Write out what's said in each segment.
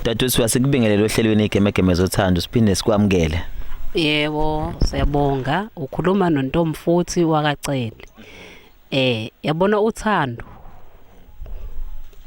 Dadwethu uyasikubingelela ohlelweni igemegeme zothando siphinde sikwamukele. Yebo, siyabonga. Ukhuluma noNtombi futhi wakacele. Eh, yabona uthando.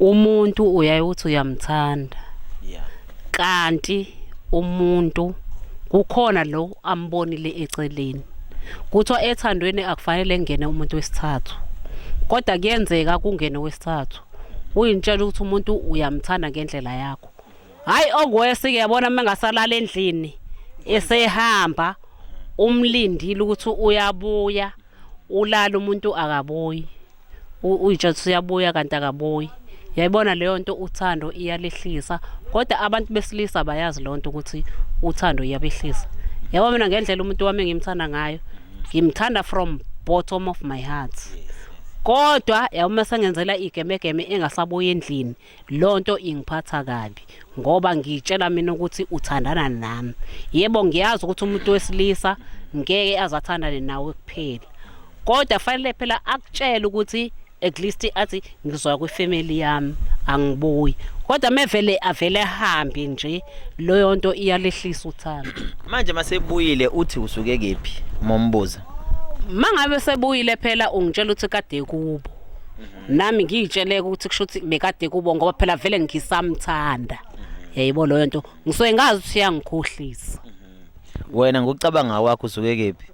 Umuntu uyaye uthi uyamthanda. Yeah. Kanti umuntu kukhona lo ambonile eceleni. Kuthiwa ethandweni akufanele ngene umuntu wesithathu. Kodwa kuyenzeka kungene wesithathu. uyintshela ukuthi umuntu uyamthanda ngendlela yakho hayi okwesi ke yabona uma engasalala endlini esehamba umlindile ukuthi uyabuya ulala umuntu akabuyi uyitsha ukuthi uyabuya kanti akabuyi yayibona leyo nto uthando iyalehlisa kodwa abantu besilisa bayazi leyo nto ukuthi uthando iyabehlisa yabo mina ngendlela umuntu wami engimthanda ngayo ngimthanda from bottom of my heart yes. kodwa yawuma sengenzela igemegeme engasabuyi endlini lonto ingiphatha kabi ngoba ngitshela mina ukuthi uthandana nami yebo ngiyazi ukuthi umuntu wesilisa ngeke azathandane nawe kuphela kodwa fanele phela akutshele ukuthi at least athi ngizoya kwifamily yami angibuyi kodwa mevele avele ahambe nje loyo nto iyalehlisa uthando manje masebuyile uthi usuke kephi mombuza mangabe sebuyile phela ungitshela ukuthi kade kubo nami ngiyitshele ukuthi kusho ukuthi bekade kubo ngoba phela vele ngisamthanda yayibo loyo nto ngisuke ngazi ukuthi iyangikhohlisa wena ngokucabanga kwakho usuke kephi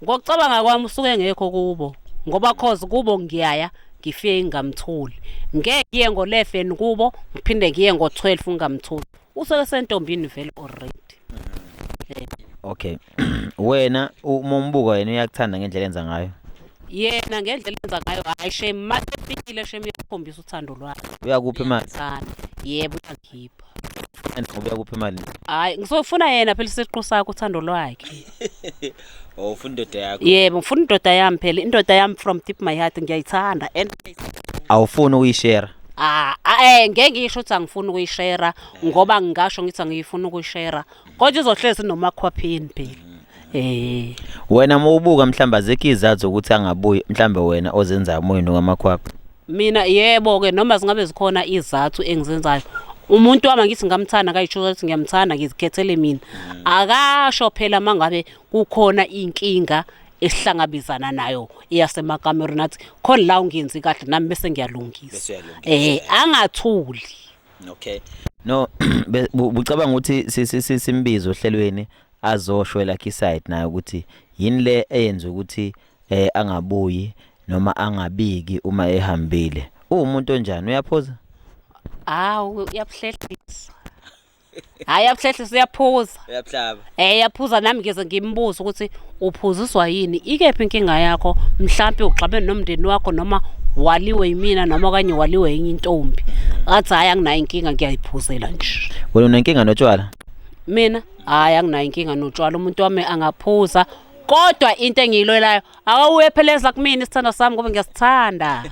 ngokucabanga kwami usuke ngekho kubo ngoba cause kubo ngiyaya ngifike ngingamtholi ngeke ngiye ngo-11 kubo ngiphinde ngiye ngo-12 ngingamtholi usuke sentombini vele already okay wena uma umbuka yena uyakuthanda ngendlela enza ngayo yena ngendlela enza ngayo hayi shem masefikile shem uyakhombisa uthando lwakhe uyakuphi imali Thanda. yebo uyakhipha and ngoba uyakuphi imali hayi ngizofuna yena phela isiqu sakho uthando lwakhe oh ufuna indoda yakho yebo ngifuna indoda yami phela indoda yami from deep my heart ngiyayithanda and awufuni ukuyishare ah ah, eh ngeke ngisho ukuthi angifuni ukuyishera ngoba ngingasho ngithi angiyifuni ukuyishera Kodwa izohlezi nomakhwaphini phela. Eh. Wena mawubuka mhlamba zekho izathu zokuthi angabuyi mhlambe wena ozenzayo moyeni ngamakhwapha. Mina yebo ke noma zingabe zikhona izathu engizenzayo. Umuntu wami ngithi ngamthanda kayisho ukuthi ngiyamthanda ngizikhethele mina. Akasho phela mangabe kukhona inkinga esihlangabezana nayo eyasemakamerweni athi khona la ungenzi kahle nami bese ngiyalungisa. Eh angathuli. okay no bucabanga ukuthi simbize ohlelweni azosho la kiside naye ukuthi yini le eyenza ukuthi eh angabuyi noma angabiki uma ehambile uwumuntu onjani uyaphoza hawu uyabuhlehlisa Hayi abuhlehle siyaphuza. Uyabuhlaba. Eh yaphuza nami ngeze ngimbuza ukuthi uphuziswa yini? Ikephi inkinga yakho? Mhlambe ugxabene nomndeni wakho noma waliwe yimina noma kanye waliwe yenye intombi. Ngathi hayi anginayo inkinga ngiyayiphuzela nje. Wena unenkinga notshwala? Mina hayi anginayo inkinga notshwala umuntu wami angaphuza. Kodwa into engiyilwelayo awuwepheleza kumina isithando sami ngoba ngiyasithanda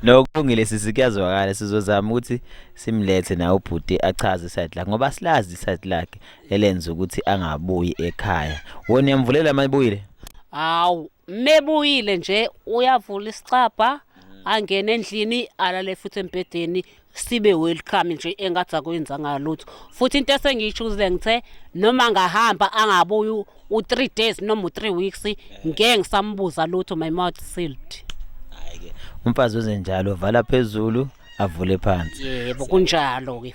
No kulungile sisi kuyazwakala sizozama ukuthi simlethe na ubhuti achaze side lakhe ngoba silazi side lakhe elenza ukuthi angabuyi ekhaya. Wona uyamvulela amayibuyile? Hawu mebuyile nje uyavula isicabha angene endlini alale futhi embhedeni sibe welcome nje engathi akwenzanga lutho futhi into esengiyishuzile ngithe noma ngahamba angabuyi u-3 days noma u-3 weeks ngeke ngisambuza lutho my mouth sealed hayi-ke umfazi wenzenjalo vala phezulu avule phansi yebo kunjalo-ke